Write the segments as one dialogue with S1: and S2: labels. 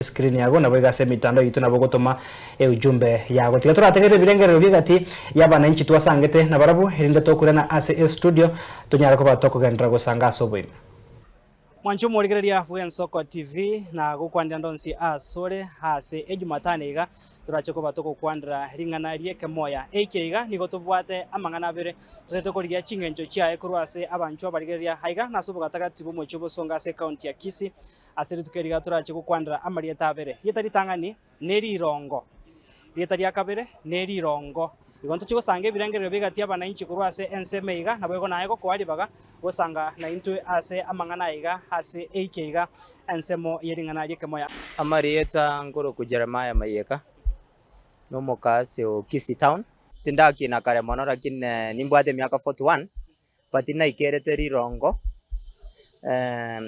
S1: screen yago nabo iga ase emitando yaito nabo gotoma eujumbe yago. Tiga torategerere ebirengererio bi'egati y'abananchi twasangete nabarabwo erinde tokwirana ase estudio tonyare koba tokogenderera gosanga ase oboime. Mwanche omorigereria bw'Ensoko TV na gokwanera ndonsi asore. Ase Ejumatano iga torache koba togokwanera ring'ana ri'ekemoya. Eikia iga nigo tobwate amang'ana abere totaete korigia ching'encho chiaye korwa ase abanchwa abarigereria aiga nase obogatagati bw'omochie obosonga ase County ya Kisii. Ase rituko eri iga torache gokwanera amarieta abere, rieta ritang'ani ne rirongo. Rieta ria kabere ne rirongo. Igo ntochie gosanga ebirengererio bigati abanainchi korwa ase ense meiga, naboigo naye gokoa ribaga gosanga naintwe ase amang'ana aiga ase eike iga ensemo ye ring'ana ri'ekemoya. Amarieta
S2: nkorokwa Jeremiah Mayeka, nomoka ase o Kisii town. Tindakiina kare mono, lakini nimbwate emiaka forty one, But naikerete rirongo, eeh,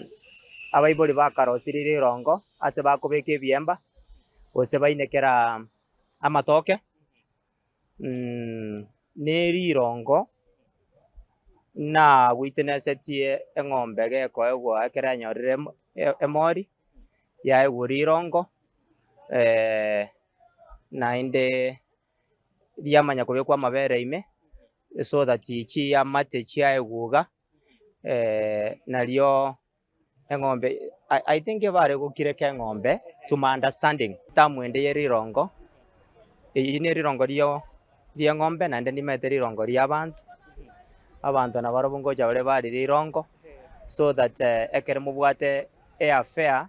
S2: abaibori bakarosirie rirongo ase bakobeka ebiemba, gose bainekera amatoke, mmh, nerirongo nawitnessetie eng'ombe gekoegwa ekero yanyorire em- e- emori, yaegwa rirongo, naende. riamanya kobekwa amabere ime, so that chiamate chiaye guga, nario eng'ombe I- I think bare gokireka eng'ombe to my understanding, term ende ya rirongo, eyio ne rirongo rio rieng'ombe naende nimanyete rirongo riabanto, abanto nabarobwo ngocha bare bare rirongo, so that ekero mobwate eaffair.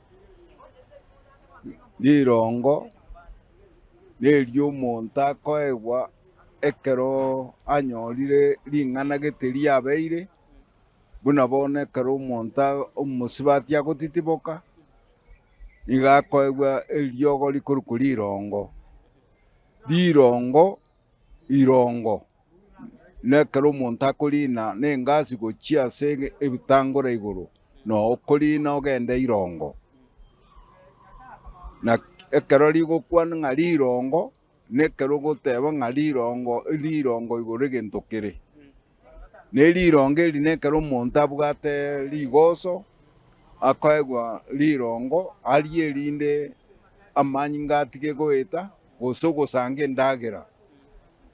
S3: rirongo neriomonto akoegwa ekero anyorire ring'ana gete riabeire, buna bono ekero omonto omosubati agotitiboka, nigo akoegwa eriogo rikorokwa rirongo, rirongo, irongo. na ekero omonto akoriina n'engasi gochia ase ebitangore igoro, na okoriina ogende irongo. Na ekero rigokwana ng'a rirongo, na ekero ogoteba ng'a rirongo, rirongo igoro egento kere. Na erirongo eri na ekero omonto abwate rigoso, akoegwa rirongo, arie erinde amanyinga atige goeta. gose ogosanga endagera.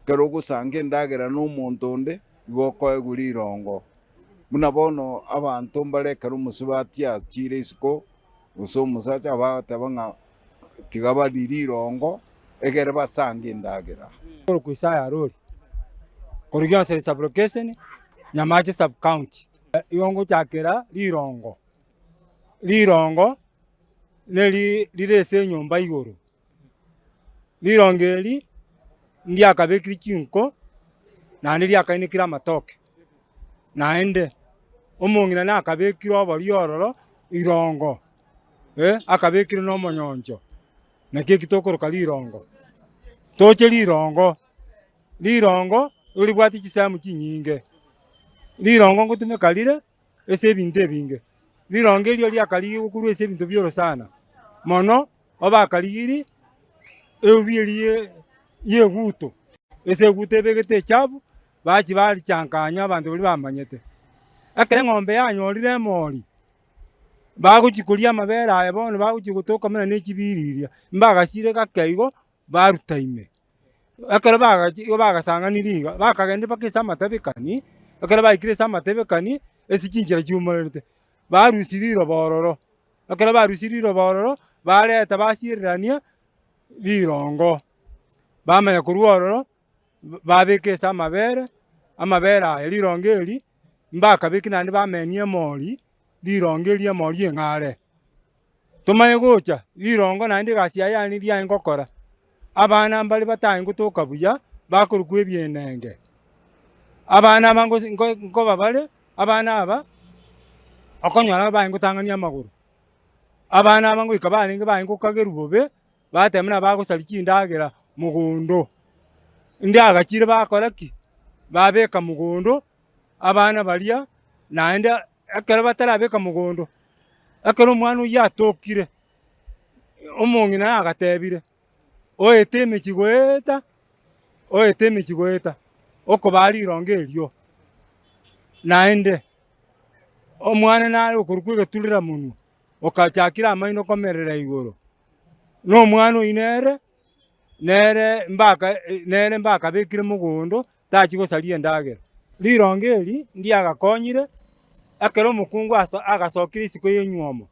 S3: Ekero ogosanga endagera nomonto onde, igo okoegwa rirongo. Buna bono abanto mbare ekero omosubati achiire isiko, gose omosacha abateba ng'a tiga barie rirongo egere basange endagera. Korokwa Isaya
S4: Arori, korigia Anseri Sub-Lokesheni, Nyamache Sub-County. Igo ngochakera rirongo, rirongo neri rire ase enyomba igoro. Rirongo eri ndiakabekire chinko, naende riakainekire amatoke, naende omong'ina nakabekire oborio ororo rirongo, akabekire na omonyoncho, naki eki tokoroka rirongo. Toche rirongo, rirongo roribwate chisemo chinyinge, rirongo ngotumeka rire. ase ebinto ebinge. Rironge erio riakarigigwa korwa ase ebinto bioro sana, mono obakarigiri eubi eria y'eguto, ase eguto ebegete echabu, bachia barichankanya abanto baria bamanyete. Ekero eng'ombe yanyorire emori, bagochia koria amabere aye bono bagochia gotoka buna ne chibiriri, mbagasiire gake igo. baruta ime. Ekero bagachia igo bagasang'anirie iga, bakagenda mpaka ase amatebekani, ekero baikire ase amatebekani, ase chinchera chiumererete, barusia riroba ororo. Ekero barusirie riroba ororo, barenta basiererania rirongo, bamanya korwa ororo, babeka ase amabere, amabere aya rirongo eri, mbakabeki naende bamenia emori, rirongo eri emori eng'are. tomanye gocha rirongo naende egasi yaye yane eria aye ngokora. Abana mbare batae ngotoka buya, bakorokwa ebienenge. Abana aba ngosi- ngo- nkoba bare, abana aba okonyora babae ngotang'ani amagoro. Abana aba ngoika barenge baye ngokagerwa bobe, bateba buna bagosaria chindagera mogondo. Inde agachire bakora ki? Babeka mogondo, Abana baria naende ekero batarabeka mogondo, ekero omwana oyio atokire, omong'ina agatebire, Oete emechie goeta, oete emechie goeta, okobaa rirongo erio. Naende omwana nare okorokwa egeturera monwe, okachakire amaino komerera igoro, nomwana oyio nere, nere mbaka nere mbakabekire mogondo tachia gosaria endagera. Rirongo eri ndiagakonyire ekero omokungu agasokire isiko y'enywomo,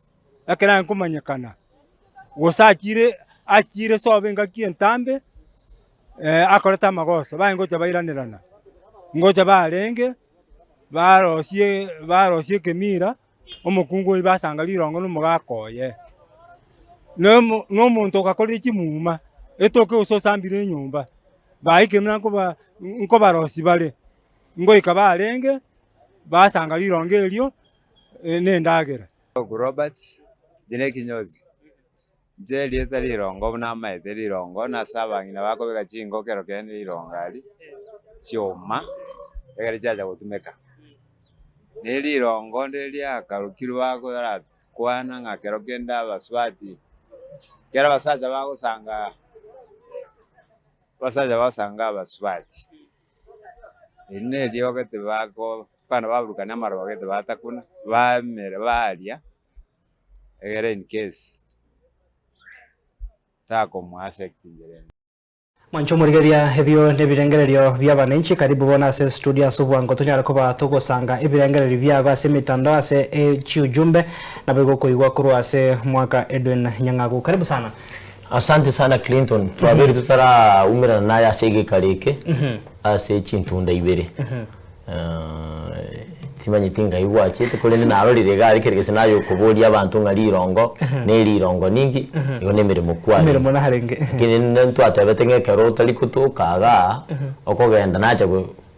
S4: ekero aye nkomanyekana, gose achiire achiire sobo engaki entambe akorete amagoso, baye ngocha bairanerana, ngocha barenge barosie barosie ekemira. omokungu oibe ase anga rirongo na omogaka oye, na omo na omonto ogakorire chimuma etoke gose osambire enyomba, baikire buna nkoba nkobarosi bare, ngoika barenge basanga rirongo erio na endagera. Robert,
S5: erio nekinyozi. Inche erieta rirongo buna amaete rirongo na ase abang'ina bakobeka chinko kero kende rirongo ari chioma ekero chiacha gotumeka. Ne rirongo ndiri riakarukirwe bagora kwana ng'a kero kende abasubati kero abasacha bagosanga abasacha bagosanga abasubati eri ne riogo tibako abana baburukana amaroba gete batakuna bamera baria egere in case takomuaffectingera ime. Mwancha
S1: omorigeria ebio nebirengererio biabananchi karibu bono ase studio ase obwango tonyare koba togosanga ebirengererio biago ase emetandao ase chiujumbe naboigo okoigwa korwa ase mwaka Edwin Nyang'agu karibu sana. Asante sana
S6: Clinton, twabeire totaraumerana naye ase egekaro eke ase chintunda ibere. Timanyeti ngai gwachete korende narorire egari kere gese naye okoboria abanto ng'a rirongo ne rirongo ninki igo ne emeremo kware. Emeremo narenge. Lakini
S1: ninde ntwatebete
S6: ng'a ekero otari kotoka iga okogenda nacha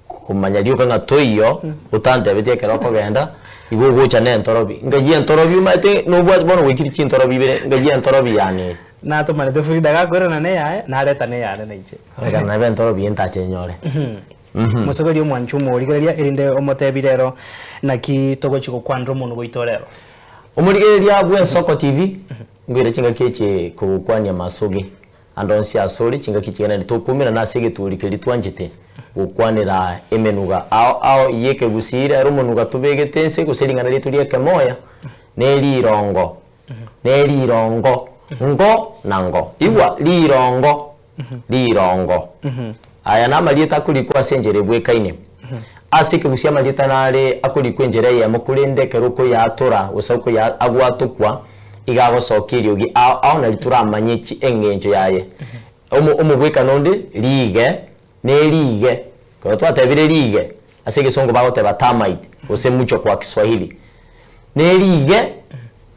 S6: komanya rioka ng'a toiyo otantebeti ekero okogenda igo ogocha ne entorobi. Ngai entorobi omanyete nobwati bono gwaikire chintorobi ibere ngai entorobi yane eye. Natomanete Frida
S1: gakoirana ne eyaye nareta ne eyane naiche. Ekero nabe entorobi eye
S6: ntache nyore. Mosoberie
S1: omwancho omorigereria, erinde omotebi rero, Naki togochia gokwanera omonwa goito rero? Omorigereria
S6: bw'Ensoko TV, ngoira chingaki echi kogokwania amasoge ande onsi asore, chingaki chigana naende tokoumera nase egetuuri keria twanchete gokwanera emenuga ao ao y'ekegusii. Rero omonuga tobegete nse gose ring'ana riaito ri'ekemoya nerirongo, nerirongo, ngo na ngo. Igwa, rirongo. rirongo. Aya namarieta akorikwa ase enchera ebwekaine. Ase ekegusi amarieta nare akorikwa enchera eyemo korende ekero okoyaatora gose okoya agwatokwa iga agosokia eriogi ao ao nari toramanye chi eng'encho yaye. Omo omobwekano onde riige neriige. Ekero twatebire riige ase egesongo bagoteba termite gose mucho kwa kiswahili. Ne riige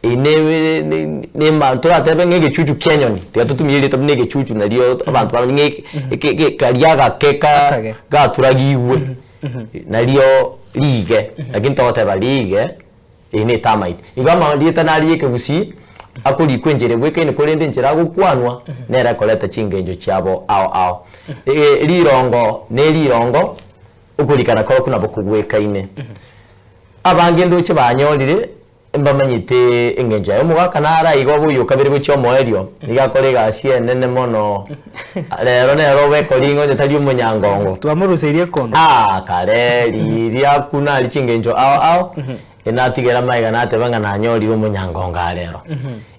S6: eri ne ne toratebe ng'a egechuchu kia enyoni tiga totumia erioria tobe ne egechuchu nario abanto bamanye ng'a eke eke karia agake ka gaturagigwe nario riige lakini togoteba riige. Eye netamaiti. Igo amarieta naria y'ekegusii akorikwa enchera ebwekaine korende enchera agokwanwa nero ekoreta chingencho chiabo ao ao. Ee, rirongo ne rirongo, okorikana korokwo nabo kogwekaine. Abange ndoche banyorire mbamanyete engencho yaye. Omogaka naro aiga obe oyokabere gochia omoerio, nigo akore egasi enene mono. Rero nero obekoringa onye tari omonyangongo. Twamoruseirie ekondo.
S1: Aa kare,
S6: riria buna ari chingencho ao ao, enatigera magega nateba ng'a nanyorire omonyangongo aa rero.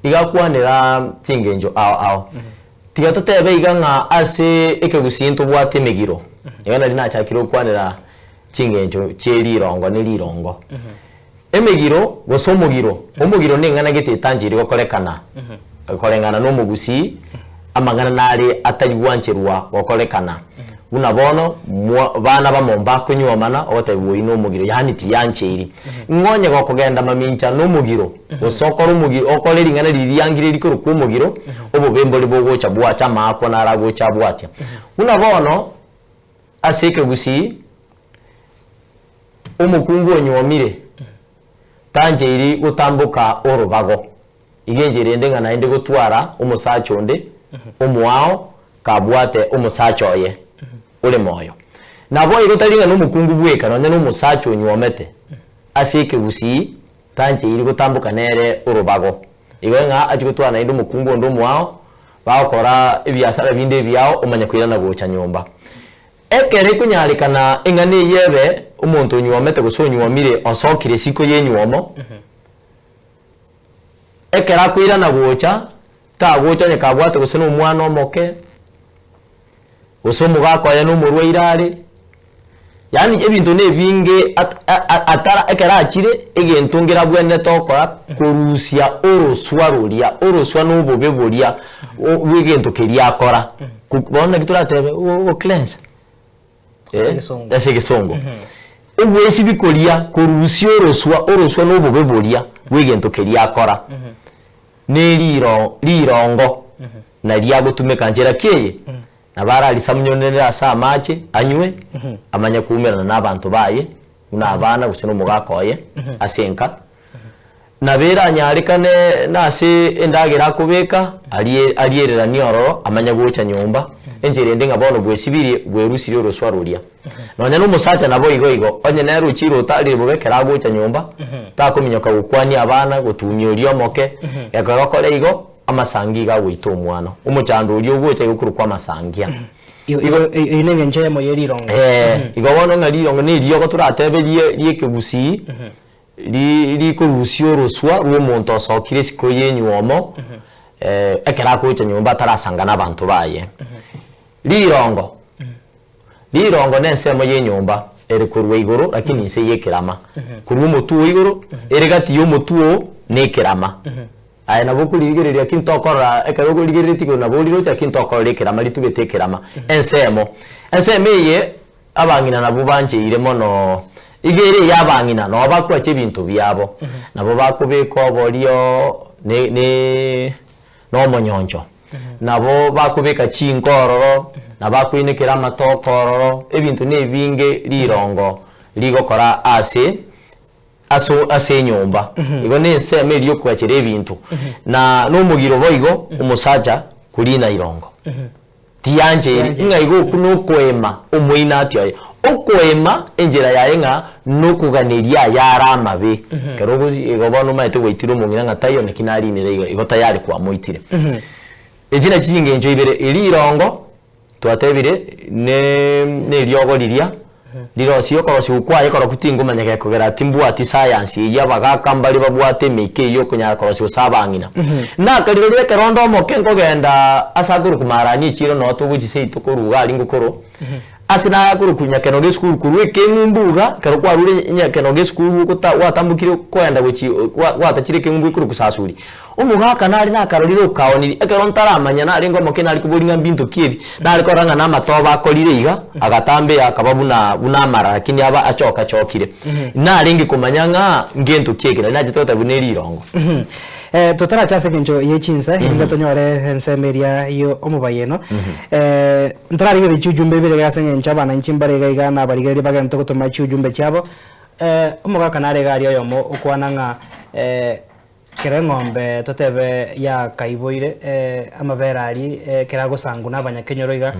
S6: Iga akwanera chingencho ao ao. Tiga totebe iga ng'a ase ekegusii ntobwate emegiro. Iga nari nachakire okwanera chingencho chie rirongo ne rirongo. Emegiro, gose omogiro. Omogiro neng'ana gete etanchiri gokorekana koreng'ana nomogusii, amang'ana nare atari gwancherwa gokorekana. Buna bono, mwa, bana bamo mbakonywomana ogotaebwa oyi nomogiro, yaani tiyancheiri. Ng'a onye gokogenda mamincha nomogiro, gose okore omogiro, okore ring'ana riria riangiriri korokwa omogiro, obobe mbori bogocha bwacha, amaakwa naro agocha abwatia. Buna bono, ase ekegusii. Omokungu onyuomire tancheiri gotamboka orobago, iga encheiri ende ng'a naende gotwara omosacha onde omoao kabwate omosacha oye ore moyo. Naboigo tari ng'a nomokungu bweka, nonya nomosacha onyuomete ase ekegusii tancheiri gotamboka nere orobago. Igo ng'a achie gotwara naende omokungu onde omoao, bagokora ebiasara binde ebiao omanye koirana gocha nyomba. Ekero ekonyarekana eng'ana eyio ebe, omonto onywomete gose onywomire osokire isiko y'enywomo, ekero akoirana gocha, tagocha onye kabwate gose nomwana omoke, gose omogaka oye nomorwaire are, yaani ebinto nebinge atara ekero achire egento ngera abwenerete okora korusia oroswa roria, oroswa nobobe boria. o bw'egento keria akora, ku bono naki toratebe o o cleanse, Ase eh, egesongo. ase egesongo. Obweisibi koria korusia oroswa, oroswa na obobe boria bw'egento keria akora, na eriro rirongo naria agotumeka nchera ki eye, nabo ararisamunyonerere ase amache, anywe, amanye koumerana na abanto baye, buna abana gose nomogaaka oye ase enka, nabe eranyarekane nase endagera akobeka, arie ariereranie ororo amanye gocha nyomba, enchera ende ng'a bono bwesibirie bwerusirie oroswa roria. Nonya nomosacha nabo igo igo, onye nere ochire otarire bobe ekero agocha nyomba, takominyoka gokwania abana, gotumia oria omoke, ekero okore igo, amasangi iga agoita omwano, omochando oria ogocha iga okorokwa amasangia. Igo, igo, e- eyio
S1: nengencho eyemo ye rirongo. Ee, Mhm. igo bono
S6: ng'a rirongo neriogo toratebe rie- riekegusii ri- rikorusia oroswa rw'omonto osokire isiko y'enywomo eh, ekero akocha nyomba atarasanga n'abanto baye. Rirongo, rirongo nensemo y'enyomba ere korwa igoro rakini inse y'ekerama, korwa omotwe o igoro ere gati y'omotwe o na ekerama. Aye nabo okorigereria ki ntokorora, ekero okorigereretie igoro nabo oriroche, lakini ntokorora ekerama, ritugete ekerama, ensemo. Ensemo eye abang'ina nabwo bancheire mono, iga ere ey'abang'ina noo bakwache ebinto biabo, nabo bakobeka oborio ne ne nomonyoncho, nabo bakobeka chinko ororo, nabo bakoinekera amatoke ororo, ebinto na ebinge rirongo rigokora ase Ase ase enyomba igo nensemo eria yokwachera ebinto, na nomogiro boigo omosacha koriina irongo. Tiyanche eri, ng'a igo okwo nokoema omoinatia oye. Okoema enchera yaye ng'a nokoganeria ayare amabe. Ekero ogochi igo bono omaete gwaitire omong'ina ng'a taiyo naki nariinire iga, igo tayari kwamoitire. Echi nachi chingencho ibere, eria irongo. Twatebire, ne, neriogo riria, rirosie, okorosiwu kwaye koroku tingomanya gekogera, timbwati sayansi eyio abagaka mbare babwate emeika eyio okonyara korosiwa ase abang'ina. Naka rirorio ekero onde omoke nkogenda ase akorokwa Maarani echiiro noo togochia seito korwa iga aria ngokoro, ase naye akorokwa Nyakeno Gesukuru korwa ekeng'umbu iga, ekero kwarure Nyakeno Gesukuru ogota gwatambokire kogenda gochia, gwa, gwatachire ekeng'umbu ekorokwa Sasuri, Omogaka nare nakarorire okaoniri, ekero ntaramanya narenge omoke nari koboria ng'a mbinto ki ebi, nare korora ng'a namatoba akorire iga, agatambea akaba buna buna amarara lakini aba achoka chokire. Narenge komanya ng'a ngento ki ekero, nachete goteba buna erirongo. Eh,
S1: totarache ase engencho ye chinsa, erinde tonyore ensemo eria yo omobayeno. Eh, ntararigerie chiujumbe ibere iga ase engencho abananchi mbare iga iga nabarigereria bagenete gotoma chiujumbe chiabo. Eh, omogaka nare iga aria oyomo okwana ng'a eh, Kera eng'ombe totebe yakaiboire amabere aria ekero agosangwa na abanyakenyoro iga,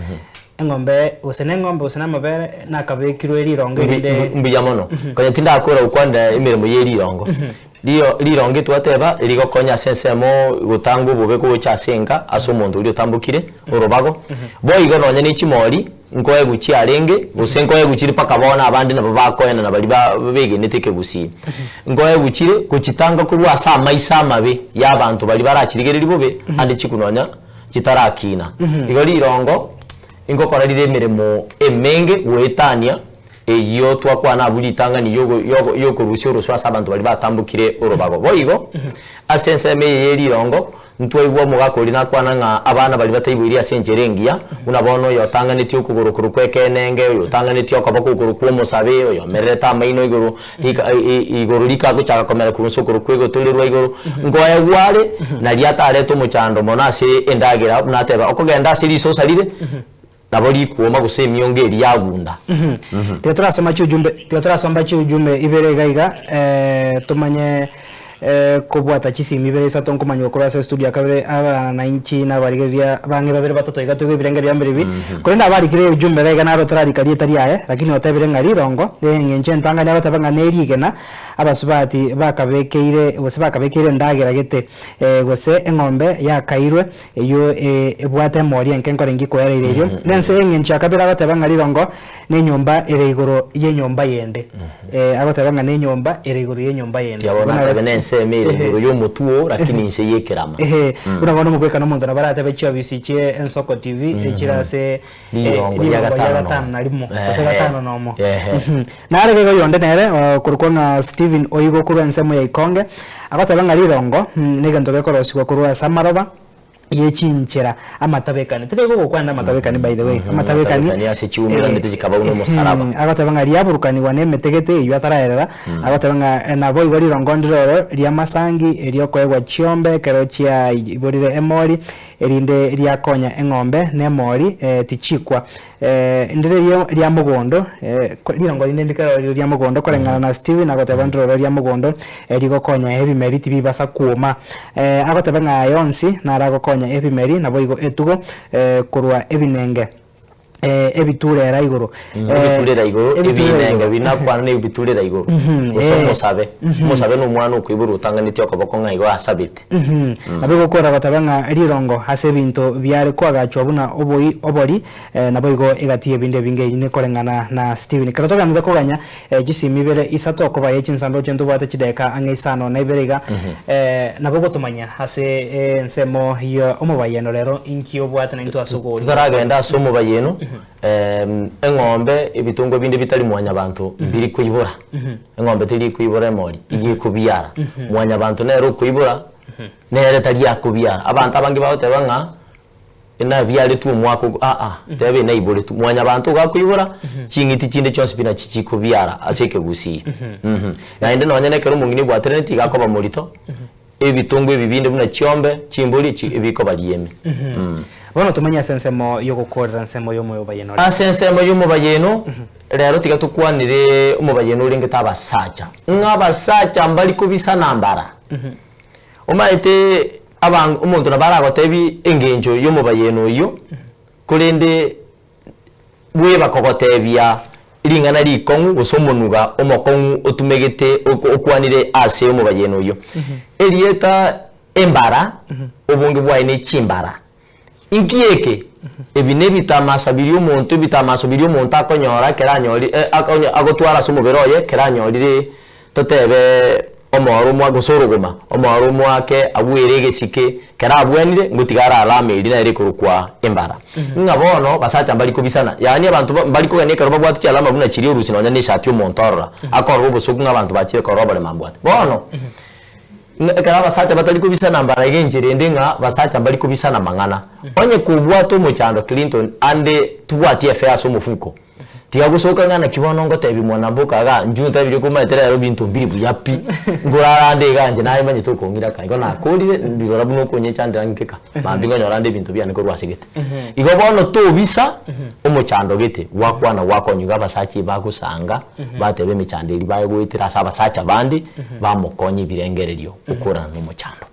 S1: eng'ombe gose na eng'ombe gose na amabere nakabekirwe rirongo erinde. Mbuya mono. Konya
S6: tindakora gokwana emeremo ye rirongo. Rirongo twateba rigokonya ase ensemo gotanga obobe gocha ase enka ase omonto oria otambokire orobago. Boigo nonya ne chimori nkoegwe chiarenge, gose nkoegwe chire mpaka bono abande nabo bakoenana baria ba, begenete ekegusii. Nkoegwe chire gochitanga korwa ase amaiso amabe y'abanto baria barachirigereria bobe ande chiku nonya chitarakina. Igo rirongo inkokora rire emeremo emenge goetania. Eyio twakwana abwo ritang'ani y'ogo y'ogo y'okorusia orosio ase abanto baria batambokire orobago. Boigo, ase ensemo eye ye rirongo, ntwaigwa omogaka oria nakwana ng'a abana baria bataiboiri ase enchera engiya, buna bono oyo otang'anetie okogoro korwa kw'ekenenge, oyo otang'anetie okoboko igoro kw'omosabe, oyo omererete amaino igoro rika i i igoro rika agochaka komera korwa inse okorwa kw'egoto rirwe igoro. Nkoye gware, naria atarete omochando mono ase endagera, buna ateba, okogenda ase risosa rire, Nabo rikuuma gose emiongo eria yagunda. Tiga
S1: torasoma chiujumbe tiga torasomba chiujumbe ibere iga iga eh, tomanye eh, kobwata chisimi ibere isato nkomanywa korwa ase estudio ya kabere abana na inchi na abarigereria bang'e babere batato iga toigwe ebirengerio bia mbere ebi korende abarikire eujumbe iga iga naro otararika rieta riaye lakini otebire ng'a rirongo eh, eng'encho entangani agoteba ng'a ne rigena abasubati bakabekeire gose bakabekeire endagera gete eh, gose eng'ombe yakairwe. Eyio ebwate emori enke nkore inki koereire erio? Nense engencho akabera agoteba ng'a rirongo nenyomba ere igoro yenyomba yende. Ee, agoteba ng'a nenyomba ere igoro yenyomba yende. Tiabwo Buna natebe nense ime
S6: ere igoro yomotu oo, rakini inse yekerama. Ehe, buna bono omogwekano
S1: monto nabo aratebe chiofisi chie Ensoko TV echire ase Rigongo ria
S6: Rigongo ria gatano gatano na na rimo, rimo. gose Ehe.
S1: gatano na omo. Ehe. Mhm. Nare gaiga oyonde nere okorokwa ng'a Stephen oigwa korwa ensemo ya Ikonge, agoteba ng'a rirongo mm, negento gekorosigwa korwa ase amaroba ye chinchera amatabekani. Tari gokokwana amatabekani by the way, Mhm, amatabekani amatabekani ase chiumera eh, emete
S6: chikaba buna omosaraba. ehe, agoteba ng'a riaburukanigwa
S1: nemetegete eyio ataraerera, agoteba ng'a eh, naboigo rirongo ndire oro ri'amasangi, eriokoegwa chiombe ekero chiaiborire emori, Erinde riakonya eng'ombe nemori tichikwa. Ndire ria mogondo, rirongo rinde ndikero rire ria mogondo koreng'ana na Stewie nagoteba ndire ore ria mogondo rigokonya ebimeri tibibasa kwoma. Agotebe ng'a aye onsi naragokonya ebimeri naboigo etugo korwa ebinenge. eh, ebiturera igoro. Mm, Eh, ebiturera igoro
S6: ebiturera ebinenge igoro. binakwana nebiturera igoro Mhm, gose eh. omosabe Mhm. omosabe na omwana okoiborwa otanganeti okoboko ng'a igo asabete Mhm. Nabo egokora gotabe ng'a rirongo ase ebinto biare koagachwa buna oboi obori, eh, naboigo egati y'ebinto ebinge eyio nekoreng'ana na Stephen. Ekero toganire koganya Echisimi ibere isato okoba ye chinsanduku chie ntobwate chideka ang'e isano na ibere iga, nabo gotomanya ase ensemo ye omobayeno rero inki obwate na intwe ase okoorigwa okwo. Totaragenda ase omobayeno, eng'ombe, ebitungo binde bitari mwanyabanto mbiri koibora. Eng'ombe teri koibora emori, iga ekobiara. Mwanyabanto nere okoibora, nere tari akobiara. Abanto abange bagoteba ng'a enabiaretwe omwaka ogo, aa, teba enaiboretwe, mwanyabanto ogakoibora, ching'iti chinde chionsi pi nachi chikobiara ase ekegusii. Mh. Naende nonye nekero omong'ina ebwaterane tigakoba morito, ebitongo ebi binde buna chiombe, chimbori echi, ebikoba rieme. Mh. Bono
S1: tomanye ase ensemo y'ogokoorera ensemo y'omobayieno ore. Ase ensemo y'omobayieno,
S6: rero tiga tokwanere omobayieno orengete abasacha, ng'a abasacha mbari kobisana mbara. Omaete Abange omonto nabo aragotebi engencho y'omobayeno oyio, korende bweba kogotebia ring'ana rikong'u gose omonuga omokong'u otumegete okwanire ase omobayeno oyio. Erieta embara, obonge bwaye ne chimbara. Inki eke? Ebi nebitamasa biria omonto, ebitamaso biria omonto akonyora ekero anyori, e, a, onye agotwara ase omobere oye ekero anyorire, toteebe, omoro omoa, gose orogoma, omoro omoa ake abuere egesike, ekero abuanire, ngotiga are alama eria nere ekorokwa embara. Ng'a bono basacha mbari kobisana, yaani abanto ba, mbari kogania ekero babwate chialama buna chiria orusi nonya na eshati omonto orora, akorora obosoku ng'a abanto bachire korora oborema mbwate. Bono. Ng'a ekero abasacha batari kobisana mbara iga enchera ende ng'a basacha mbari kobisana amang'ana. Onye kobwate omochando Clinton ande tibwati efe ase omofuko. Tiga gosoka ng'a naki bono ngotebia mwana mboka iga inchuo ntebirie komanyete rero binto mbiri buya pi. Ngorara ande iga inche namanyete okong'ira aka igo nakorire, ndirora buna okonyechandera ng'ike aka. Maambia ngonyora ande ebinto biane korwa ase gete. Igo bono tobisa omochando gete, gwakwana gwakonywa abasacha ebagosaanga, bateba emechando eria baegoetera ase abasacha bande, bamokonya ebirengererio okoorana nomochando.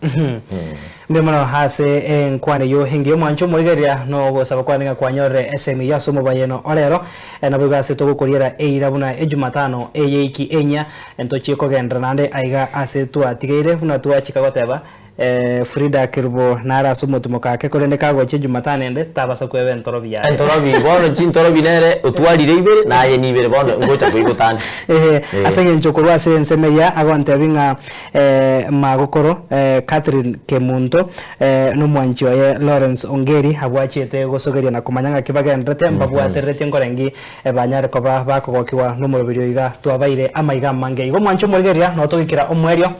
S6: Mbuya mono
S1: ase enkwana eyio engiya omwancho omoigereria nogosaba kwane ng'a kwanyorire esehemu eyio ase omobayeno orero. Naboigo ase togokoriera eira buna ejumatano eye eiki enyia, ntochie kogenderera naende aiga ase twatigeire buna twachika goteba, Fridah Kerubo nare ase omotimoko ake korende kagochia Jumatano ende tabasa kweba entorobi yaye. Entorobi, bono chintorobi
S6: nere otwarire ibere na aye nibere bono ngocha koibota ande. Eeh. Ase engencho
S1: korwa ase ensemo eria agontebia ng'a magokoro Catherine Kemunto nomwanchi oye Lawrence Ongeri abwachete gosogeria na komanya ng'aki bagenderete mbabwatereretie nkore ng'i. Ebanyare koba bakogokigwa nomoroberio oiga twabaire amaiga amange. Igo mwanche omorigereria na otogoikera omoerio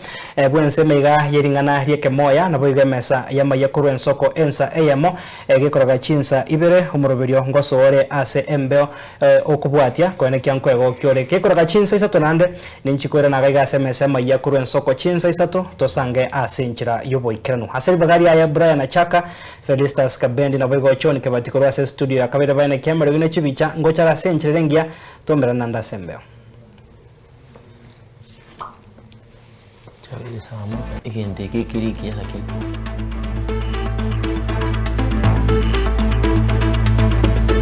S1: bw'ense emeiga y'ering'ana ri'ekemoya, naboigo emesa y'amaiga korwa ensoko ensa eyemo egekoroga chinsa ibere, omoroberio ngosoore ase embeo okobwatia kwene kia nkwegokia ore gekoroga chinsa isato naende ninchi koirana agaiga ase emesa y'amaiga korwa ensoko chinsa isato tosange ase enchera y'oboikeranu ase ribaga ria Aebrania chaka Felistas Kabendi naboigo John Kebati korwa ase studio ya kabere baene kiamerogio ne chibicha ngochara ase enchera ere engiya twamerane naende ase embeo.
S6: Egento eke ekere ekiya lakini.